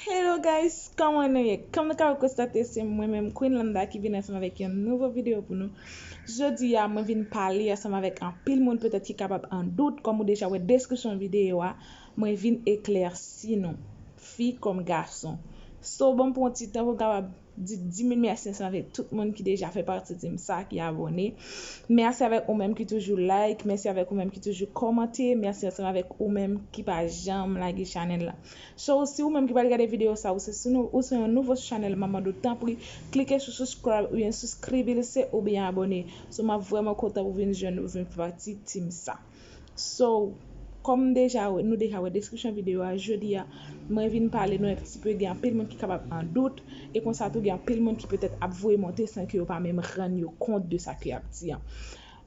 Hello guys, kòman nou ye? Kòm nou ka konstate se mwen menm Queen Landa ki vin ansanm avèk yon nouvo video pou nou. Jodi a mwen vin pale ansanm avèk anpil moun petèt ki kapab an dout kòm ou deja wè deskripsyon video a, mwen vin eklèsi nou, fi kòm gason. So banm pran yon ti tan pou m kapab Di 10.000 mèsi ansanm avèk tout moun ki deja fè pati team sa ki abòne mèsi avèk ou menm ki toujou like mèsi avèk ou menm ki toujou kòmante mèsi ansanm avèk ou menm ki pa janm lage chanèl la so si ou menm ki pral gade video sa ou se ou se yon nouvo sou chanèl map mande w tanpri klike sou subscribe oubyen souskribelise oubyen abòne so map vrèman kontan ou vin jwenn ou vin fè pati team sa. So, kòm m deja nou deja wè deskripsyon videyo a, jodi a, mwen vin pale nou un ti peu gen anpil moun ki kapab an dout, e konsa tou gen anpil moun ki petèt ap voye monte san ke yo pa menm rann yo kont de sa ke y ap di an.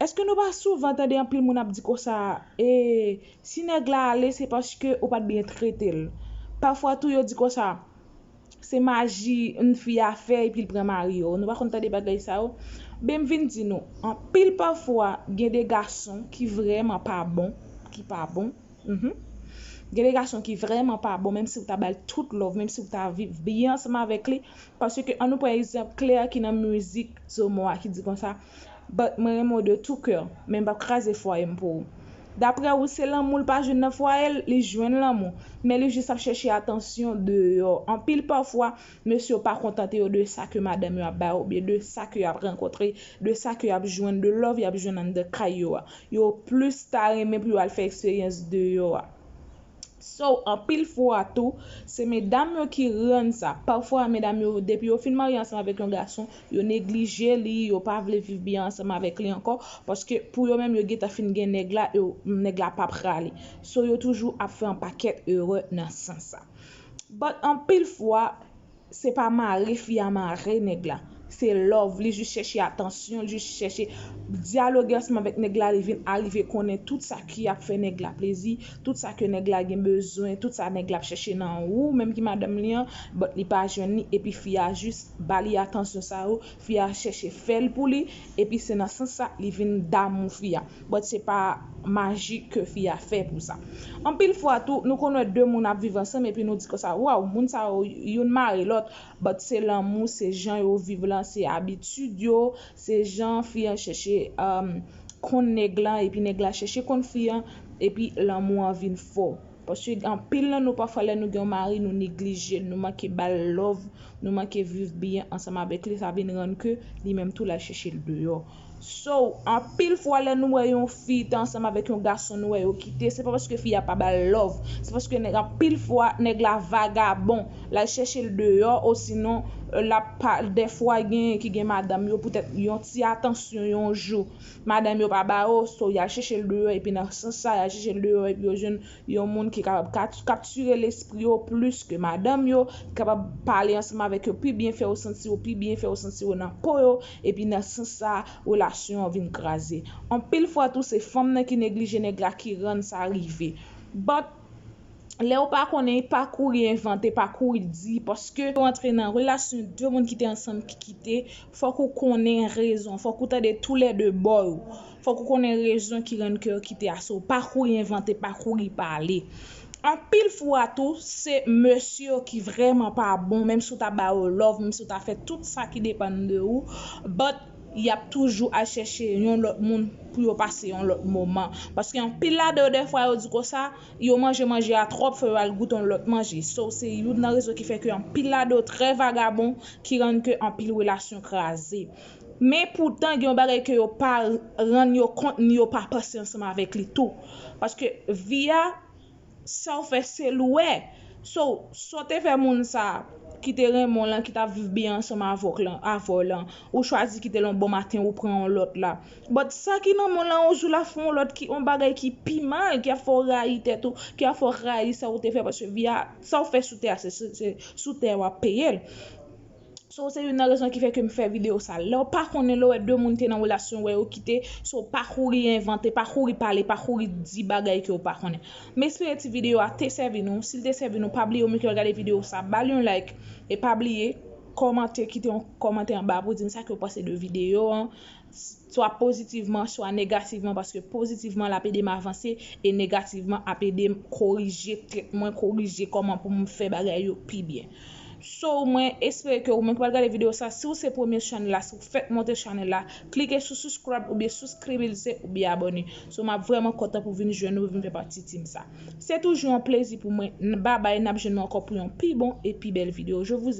Èske nou pa souvan tande anpil moun ap di konsa, ee, si nèg la ale se paske ou pa t byen trete l. Pafwa tou yo di konsa, Se maji yn fi a fè epi l pran mari yo nou pa konn tande bagay sa yo ben m vin di nou anpil pafwa gen de gason ki vrèman pa bon ki pa bon humm gen de gason ki vrèman pa bon menm si w ta bal tout love menm si w ta viv byen ansanm avèk li paske an nou pran egzanp Claire ki nan mizik Zomo a ki di konsa. But mwen renmen w de tout coeur men m pap kraze fwaye m pou ou. Daprè ou se lanmou l pa jwenn nan fwaye l, li jwenn lanmou men li jis ap chèche atansyon deyò. Anpil pafwa mesye yo pa kontante yo de sa ke madanm yo ap ba yo oubyen de sa ke yo ap rankontre, de sa ke yo ap jwenn, de love y ap jwenn anndan kay yo a. Yo plis ta renmen pou yo al fè eksperyans deyò a. So anpil fwa tou se medam yo ki rann sa. Pafwa medam yo depi yo fin marye ansanm avèk yon gason, yo neglije li, yo pa vle viv byen ansanm avèk li ankò, paske pou yo menm yo gentan fin gen nèg la e nèg la pap rale. So yo toujou ap fè anpakèt erè nan sans sa. But anpil fwa Se pa mare fi a mare nèg la. Se love, li jis chèche atansyon, li jis chèche dyaloge ansanm avèk nèg la, li vin arive konnen tout sa ki ap fè nèg la plezi, tout sa ke nèg la gen bezwen, tout sa nèg la ap chèche nan ou menm ki madanm li an, but li pa jwenn li epi fi a jis ba li atansyon sa yo, Fi a chèche fèl pou li epi se nan sans sa li vin damou fi a. But se pa maji ke fi a fè pou sa. Anpil fwa tou nou konn wè 2 moun ap viv ansanm epi nou di konsa waw moun sa yo youn mare lòt but se lanmou se jan yo viv lan se abitid yo se jan fi an chèche konn nèg lan epi nèg la chèche konn fi an epi lanmou an vin fò. Paske anpil nan nou pafwa lè nou gen yon mari nou neglije l, nou manke ba l love, nou manke viv byen ansanm avèk li sa vin rann ke li menm tou l al chèche l deyò. So, anpil fwa lè nou wè yon fi te ansanm avèk yon gason nou wè yo kite se pa paske fi a pa ba l love, se paske nèg anpil fwa nèg la vagabon, l al chèche l deyò osinon l ap pa dèfwa gen ki gen madanm yo poutèt yon ti atansyon yon jou Madanm yo pa ba yo, so y al chèche l deyò epi nan sans sa y al chèche l deyò epi yo jwenn yon moun ki kapab kaptire lespri yo plis ke madanm yo, ki kapab pale ansanm avèk yo pi byen, fè yo santi yo pi byen, fè yo santi yo nan po yo epi nan sans sa relasyon an vin kraze. Anpil fwa tou se fanm nan ki neglije nèg la ki rann sa rive. But. Lèw pa konnen pa kouri envante pa kouri di paske lèw antre nan relasyon 2 moun ki te ansanm ki kite fòk ou konnen rezon fòk ou tande tou lè 2 bò yo fòk ou konnen rezon ki rann ke yo kite a so pa kouri envante pa kouri pale anpil fwa tou se mesye yo ki vrèman pa bon menm si ou ta ba yo love menm si ou ta fè tout sa ki depann de ou but yap toujou al chèche yon lòt moun pou yo pase yon lòt moman. Paske anpil ladan yo dèfwa yo di konsa, yo manje manje a twòp fò yo al goute yon lòt manje. So se youn nan rezon ki fè ke anpil ladan yo trè vagabon ki rann ke anpil relasyon kraze. Men poutan gen yon bagay ke yo pa rann yo kont ni yo pa panse ansanm avèk li tou. Paske vi a. Saw fè se louwe. So, saw te fè moun sa ki te renmen w lan ki tap viv byen ansanm avèw lan, avèw lan, ou chwazi kitel yon bon maten ou pran yon lòt la. But sa ki nan moun lan yon jou lap fè yon lòt ki yon bagay ki pi mal ki ap fè w rayi tèt ou, ki ap fè w rayi sa ou te fè paske vi a, sa ou fè sou tè a se sou tè a wap peyel. So se youn nan rezon ki fè ke m fè video sa. Lè w pa konnen, lè w wè 2 moun te nan relasyon, wè yo kite, so pa kouri envante, pa kouri pale, pa kouri di bagay ke w pa konnen. M espere ti video a te sèvi nou, si l te sèvi nou pa bliye ou menm ki ap gade video sa ba l yon like e pa bliye kòmante, kite yon kòmantè anba pou di m sa ke w panse de video an, swa pozitivman swa negativman paske pozitivman lap edem avanse e negativman ap edem korije tèt mwen korije kòman poum fè bagay yo pi byen so mwen espere ke ou menm ki pral gade video sa siw se premye chanl la siw fèk monte chanel la klike sou suscribe oubyen suskribilse oubyen abòne so map vrèman kontan pou vin jwenn ou vin fè pati team sa se toujou yon plezi pou mwen n babay nap jwenn nou ankò pou yon pi bon e pi bèl video je vous